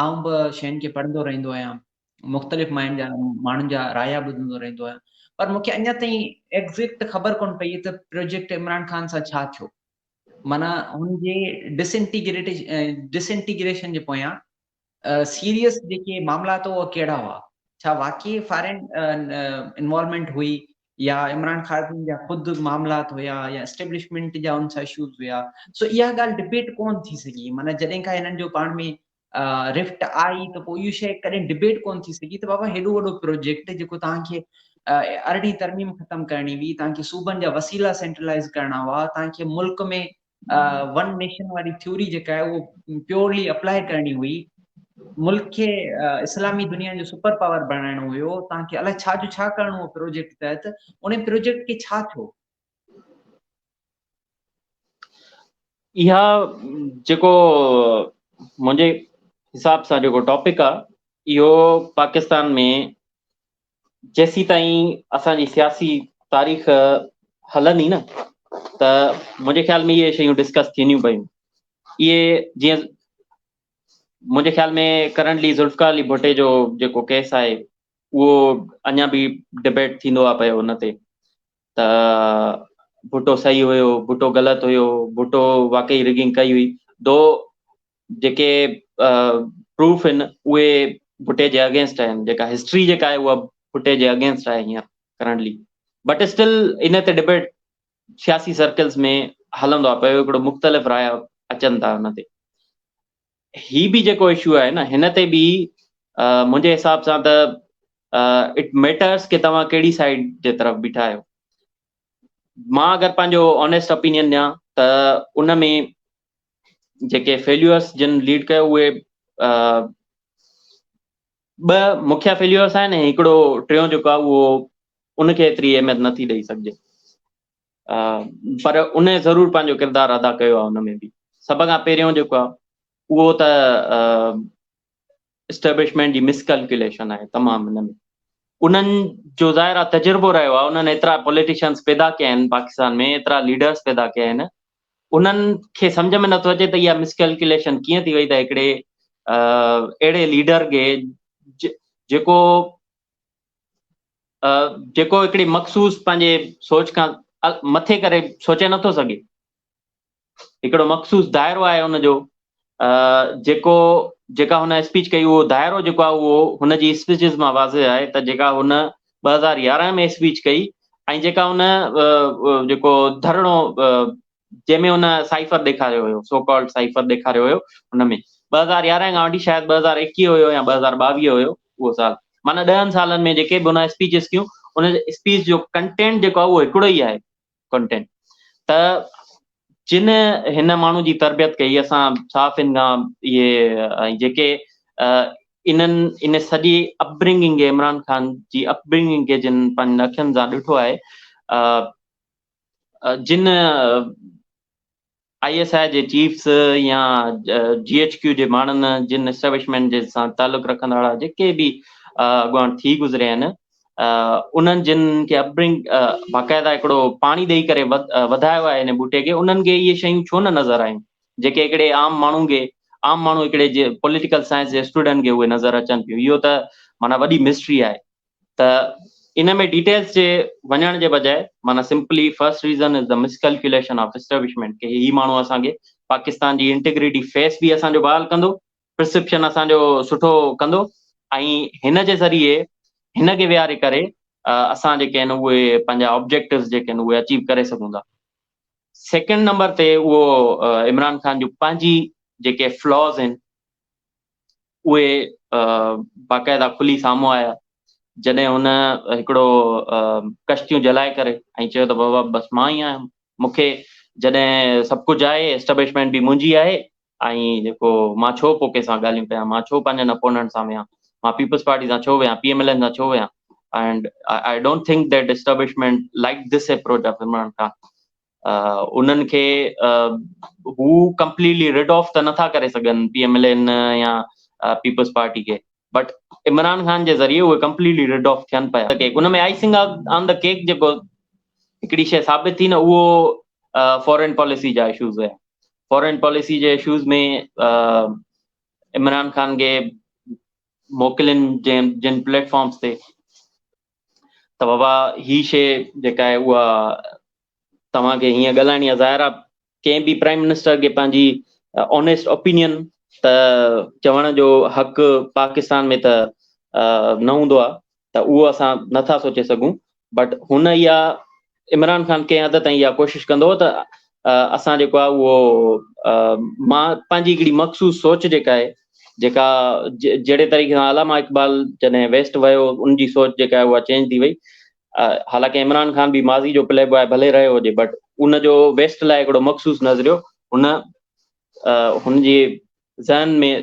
آئون به شين کي پڙهندو رهندو آهيان مختلف ماين جا ماڻهن جا رايا ٻڌندو رهندو آهيان پر مونکي اڃا تائين ايگزيڪٽ خبر ڪون پئي ته پروجيڪٽ عمران خان سان ڇا ٿيو مانا هن جي ڊسنٽيگريٽ ڊسنٽيگريشن جي پويان سيريس جيڪي معاملات هئا ڪهڙا هئا ڇا واقعي فارين انوالومينٽ هئي يا عمران خارجين جا خود معاملات هيا يا اسٽيبلشمينٽ جا ان سان اشوز هيا سو اها ڳالهه ڊبيٽ ڪون ٿي سگهي معنيٰ جڏهن کان هنن جو پاڻ ۾ رفٽ آئي ته پوء اهو شيء ڪڏهن ڊبيٽ ڪون ٿي سگهي ته بابا هيڏو وڏو پروجيڪٽ جيڪو توهان کي ارڙهين ترميم ختم ڪرڻي هئي توهان کي صوبن جا وسيلا سينٽرلائز ڪرڻا هئا توهان کي ملڪ ۾ ون نيشن واري ٿيوري جيڪا آهي اهو پيورلي اپلائي ڪرڻي هئي ملڪ کي اسلامي دنيا جو سپر پاور بڻائڻو هيو تان کي الائي ڇا جو ڇا ڪرڻو هو پروجيڪٽ تحت ان پروجيڪٽ کي ڇا ٿيو اها جيڪو منهنجي حساب سان جيڪو ٽاپڪ آهي اهو پاڪستان ۾ جيسيتائين اسان جي سياسي تاريخ هلندي نه ته منهنجي خيال ۾ اهي شيون ڊسڪس ٿينديون پيون اهي جيئن منهنجي خيال ۾ ڪرنٽلي ذوالفقار علي ڀٽي جو جيڪو ڪيس آهي اهو اڃا به ڊبيٽ ٿيندو آهي پيو ان تي ته ڀٽو صحيح هيو، ڀٽو غلط هيو، ڀٽو واقعي رگنگ ڪئي هئي، دو جيڪي پروف آهن اهي ڀٽي جي اگينسٽ آهن، جيڪا هسٽري جيڪا آهي اها ڀٽي جي اگينسٽ آهي هينئر ڪرنٽلي بٽ اسٽل ان تي ڊبيٽ سياسي سرڪلز ۾ هلندو آهي پيو هڪڙو مختلف رايا اچن ٿا ان تي هي به جيڪو اشو آهي نه هن تي به منهنجي حساب سان ته اٽ ميٽرس ڪي توهان ڪهڙي سائيڊ جي طرف بيٺا آهيو مان اگر پنهنجو آنيسٽ اپينين ڏيان ته ان ۾ جيڪي فيليورس جن ليڊ ڪيو اهي ٻه مکيا فيليورس آهن ۽ هڪڙو ٽيون جيڪو آهي اهو ان کي ايتري اهميت نٿي ڏئي سگهجي پر ان ضرور پنهنجو ڪردار ادا ڪيو آهي ان ۾ به سڀ کان پهريون جيڪو آهي اهو ته اسٽيبلشمينٽ جي مس ڪلڪيوليشن آهي تمام ان ۾ انهن جو ظاهر آهي تجربو رهيو آهي انهن ايترا پوليٽيشنس پيدا ڪيا آهن پاڪستان ۾ ايترا ليڊرس پيدا ڪيا آهن انهن کي سمجھ ۾ نٿو اچي ته اها مس ڪلڪيوليشن ڪيئن ٿي وئي ته هڪڙي اهڙي ليڊر کي جيڪو جيڪو هڪڙي مخصوص پنهنجي سوچ کان مٿي ڪري سوچي نٿو سگهي هڪڙو مخصوص دائرو آهي ان جو جيڪو جيڪا هن اسپيچ ڪئي اهو دائرو جيڪو آهي اهو هن جي اسپيچز مان واضح آهي ته جيڪا هن ٻه هزار يارهن ۾ اسپيچ ڪئي ۽ جيڪا هن جيڪو ڌرڻو جنهن ۾ هن سائفر ڏيکاريو هيو، سو ڪالڊ سائفر ڏيکاريو هيو، ان ۾ ٻه هزار يارهن کان وٺي شايد ٻه هزار ايڪيهه هيو يا ٻه هزار ٻاويهه هيو اهو سال، معنيٰ ڏهن سالن ۾ جيڪي به هن اسپيچز ڪيون، ان اسپيچ جو ڪنٽينٽ جيڪو آهي اهو هڪڙو ئي آهي ڪنٽينٽ ته جن هن ماڻهو جي تربيت ڪئي اسان صحافين کان اهي ۽ جيڪي انهن ان سڄي اپبرنگنگ کي عمران خان جي اپبرنگنگ کي جن پنهنجن اکين سان ڏٺو آهي جن آء ايس آء جي چيفس يا جي ايڇ ڪيو جي ماڻهن جن اسٽيبلشمينٽ جي سان تعلق رکندڙ وارا جيڪي به اڳواڻ ٿي گذريا آهن انهن جن کي اپبرنگ باقاعده هڪڙو پاڻي ڏيئي ڪري وڌايو آهي هن ٻوٽي کي انهن کي اهي شيون ڇو نه نظر آيون جيڪي هڪڙي عام ماڻهو کي عام ماڻهو هڪڙي جي پوليٽيڪل سائنس جي اسٽوڊنٽ کي اهي نظر اچن پيون اهو ته معنيٰ وڏي مسٽري آهي ته ان ۾ ڊيٽيلز جي وڃڻ جي بجاء معنيٰ simply first reason is the miscalculation of establishment ڪي هي ماڻهو اسان کي پاڪستان جي انٽيگريٽي فيس به اسان جو بحال ڪندو پرسيپشن اسان جو سٺو ڪندو ۽ هن جي ذريعي هن کي ويهاري ڪري اسان جيڪي آهن اهي پنهنجا آبجيڪٽوز جيڪي آهن اهي اچيو ڪري سگهون ٿا سيڪنڊ نمبر تي اهو عمران خان جون پنهنجي جيڪي فلاز آهن اهي باقاعده کلي سامهون آيا جڏهن هن هڪڙو ڪشتيون جلائي ڪري ۽ چيو ته بابا بس مان ئي آهيان مون کي جڏهن سڀ ڪجهه آهي اسٽبلشمينٽ به منهنجي آهي ۽ جيڪو مان ڇو پوء ڪنهن سان ڳالهيون ڪيان مان ڇو پنهنجن اپوننٽ سان ويهان مان پيپلز پارٽي سان ڇو ويهان پي ايم ايل اين سان ڇو ويهان ۽ I don't think that establishment like this approach of Imran Khan انهن کي هو ڪمپليٽلي رڊ آف ته نٿا ڪري سگهن پي ايم ايل اين يا پيپلز پارٽي کي بٽ عمران خان جي ذريعي اهي ڪمپليٽلي رڊ آف ٿين پيا ان ۾ آئسنگ آن دا ڪيڪ جيڪو هڪڙي شيء ثابت ٿي نه اهو فارين پاليسي جا اشوز هيا فارين پاليسي جي اشوز ۾ عمران خان کي موڪلين جن پليٽ فارمز تي ته بابا هي شيء جيڪا آهي اها توهان کي هيئن ڳالهائڻي آهي ظاهر آهي ڪنهن به پرائم منسٽر کي پنهنجي اونيسٽ اوپينين ته چوڻ جو حق پاڪستان ۾ ته نه هوندو آهي ته اهو اسان نٿا سوچي سگهون بٽ هن اها عمران خان ڪنهن حد تائين اها ڪوشش ڪندو هو ته اسان جيڪو آهي اهو مان پنهنجي هڪڙي مخصوص سوچ جيڪا آهي جيڪا جهڙي طريقي سان علامه اقبال جڏهن ويسٽ ويو ان جي سوچ جيڪا آهي اها چينج ٿي وئي حالانڪ عمران خان به ماضي جو پلي بوائي ڀلي رهيو هجي بٽ ان جو ويسٽ لاء هڪڙو مخصوص نظريو هن هن جي ذهن ۾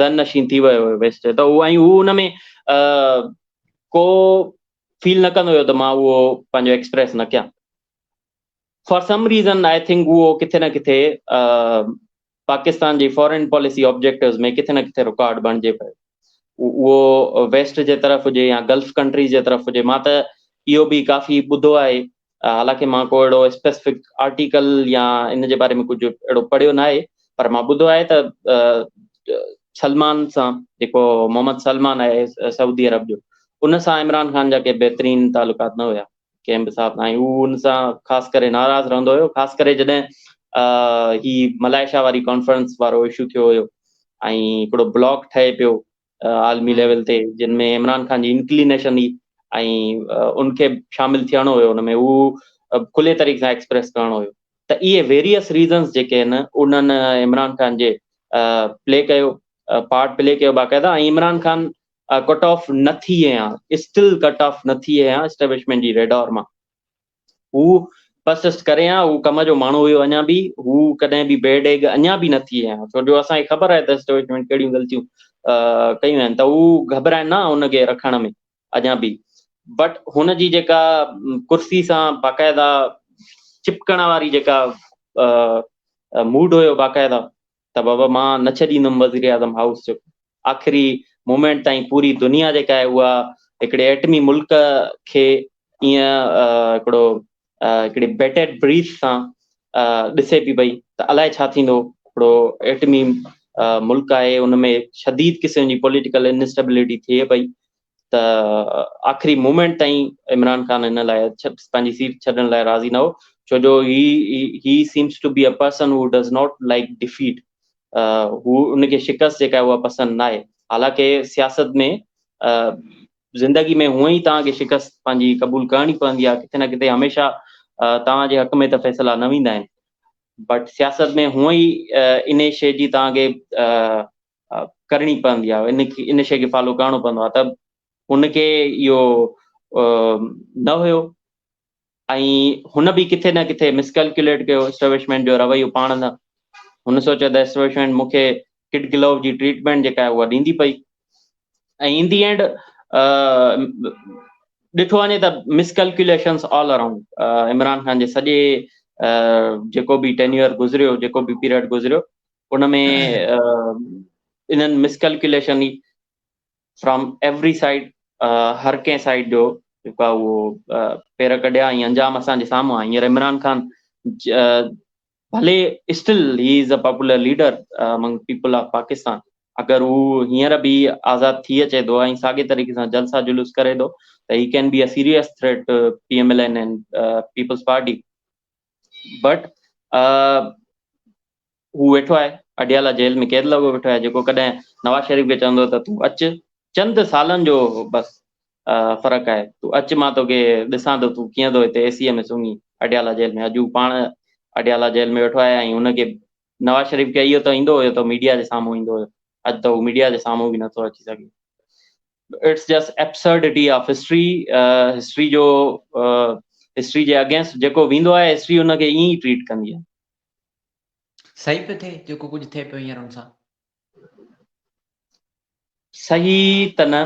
ذهن نشين ٿي ويو ويسٽ ته ان ۾ ڪو فيل نه ڪندو هيو ته مان اهو پنهنجو ايڪسپريس نه ڪيان for some reason I think اهو ڪٿي نه ڪٿي پاڪستان جي فارين پاليسي آبجيڪٽوز ۾ ڪٿي نه ڪٿي رڪارڊ بڻجي پيو اهو ويسٽ جي طرف هجي يا گلف ڪنٽريز جي طرف هجي مان ته اهو به ڪافي ٻڌو آهي حالانڪه مان ڪو اهڙو اسپيسفڪ آرٽيڪل يا ان جي باري ۾ ڪجهه اهڙو پڙهيو ناهي پر مان ٻڌو آهي ته سلمان سان جيڪو محمد سلمان آهي سعودي عرب جو ان سان عمران خان جا ڪي بهترين تعلقات نه هيا ڪنهن به حساب سان هو ان سان خاص ڪري ناراض رهندو هيو خاص ڪري جڏهن هي ملائيشيا واري ڪانفرنس وارو اشو ٿيو هيو ۽ هڪڙو بلاڪ ٺهي پيو عالمي ليول تي جن ۾ عمران خان جي انڪلينيشن هئي ۽ ان کي شامل ٿيڻو هيو ان ۾ هو کلي طريقي سان ايڪسپريس ڪرڻو هيو ته اهي ويريس ريزنس جيڪي آهن انهن عمران خان جي پلي ڪيو پارٽ پلي ڪيو باقاعده ۽ عمران خان ڪٽ آف نه ٿي آهيان اسٽل ڪٽ آف نه ٿي آهيان اسٽيبلشمنٽ جي ريڊار مان هو پرسسٽ ڪري ها هو ڪم جو ماڻهو هيو اڃا به هو ڪڏهن به بيڊ ايگ اڃا به نه ٿي ها ڇو جو اسان کي خبر آهي ته اسٽيبلشمينٽ ڪهڙيون غلطيون ڪيون آهن ته هو گهبرائن نه ان کي رکڻ ۾ اڃا به بٽ هن جي جيڪا ڪرسي سان باقاعده چپڪڻ واري جيڪا موڊ هيو باقاعده ته بابا مان نه ڇڏيندم وزيراعظم هائوس جو آخري مومينٽ تائين پوري دنيا جيڪا آهي اها هڪڙي ايٽمي ملڪ کي ائين هڪڙو هڪڙي بيٽيڊ بريٿ سان ڏسي پي پئي ته الائي ڇا ٿيندو هڪڙو ايٽمي ملڪ آهي ان ۾ شديد قسم جي پوليٽيڪل انسٽيبلٽي ٿئي پئي ته آخري مومينٽ تائين عمران خان ان لاء پنهنجي سيٽ ڇڏڻ لاء راضي نه هو ڇو جو هي he seems to be a person who does not like defeat هو ان کي شڪست جيڪا اها پسند نه آهي حالانڪه سياست ۾ زندگي ۾ هونء ئي توهان کي شڪست پنهنجي قبول ڪرڻي پوندي آهي ڪٿي نه ڪٿي هميشه توهان جي حق ۾ ته فيصلا نه ويندا آهن بٽ سياست ۾ هونء ئي ان شي جي توهان کي ڪرڻي پوندي آهي ان کي ان شيء کي فالو ڪرڻو پوندو آهي ته ان کي اهو نه هيو ۽ هن به ڪٿي نه ڪٿي مسڪلڪيوليٽ ڪيو اسٽيبلشمينٽ جو رويو پاڻ نه هن سوچيو ته اسٽيبلشمينٽ مون کي ڪٽ گلو جي ٽريٽمينٽ جيڪا آهي اها ڏيندي پئي ۽ ان دي اينڊ ڏٺو وڃي ته miscalculations all around Imran Khan جي سڄي جيڪو به ٽينيور گذريو جيڪو به پيريڊ گذريو ان ۾ انهن مس ڪلڪيوليشن ئي فرام ايوري سائيڊ هر ڪنهن سائيڊ جو جيڪو آهي اهو پير ڪڍيا ۽ انجام اسان جي سامهون آهي هينئر عمران خان ڀلي still he is a popular leader among people of Pakistan اگر هو هينئر به آزاد ٿي اچي ٿو ۽ ساڳي طريقي سان جلسا جلوس ڪري ٿو ته he can be a serious threat to P M L N and Peoples Party but هو ويٺو آهي اڊيالا جيل ۾ قيد لڳو ويٺو آهي جيڪو ڪڏهن نواز شريف کي چوندو ته تون اچ چند سالن جو بس فرق آهي تون اچ مان توکي ڏسان ٿو تون ڪيئن ٿو هتي اي سي ايم ۾ سمهين اڊيالا جيل ۾ اڄ هو پاڻ اڊيالا جيل ۾ ويٺو آهي ۽ هن کي نواز شريف کي اهو ته ايندو هيو ته ميڊيا جي سامهون ايندو هيو اڄ ته هو ميڊيا جي سامهون به نٿو اچي سگهي it's just absurdity of history, history جو هسٽري جي اگينسٽ جيڪو ويندو آهي هسٽري ان کي ائين ئي ٽريٽ ڪندي آهي. صحيح پيو ٿئي جيڪو ڪجهه ٿئي پيو هينئر ان سان؟ صحيح ته نه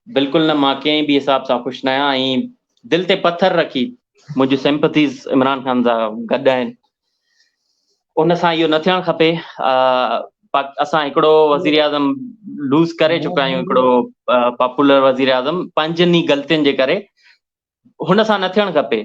بلڪل نه مان ڪنهن به حساب سان خوش نه آهيان ۽ دل تي پٿر رکي منهنجون سيمپٿيز عمران خان سان گڏ آهن. ان سان اهو نه ٿيڻ کپي اسان هڪڙو وزيراعظم لوز ڪري چڪا آهيون هڪڙو پاپولر وزيراعظم پنهنجن ئي غلطين جي ڪري هن سان نه ٿيڻ کپي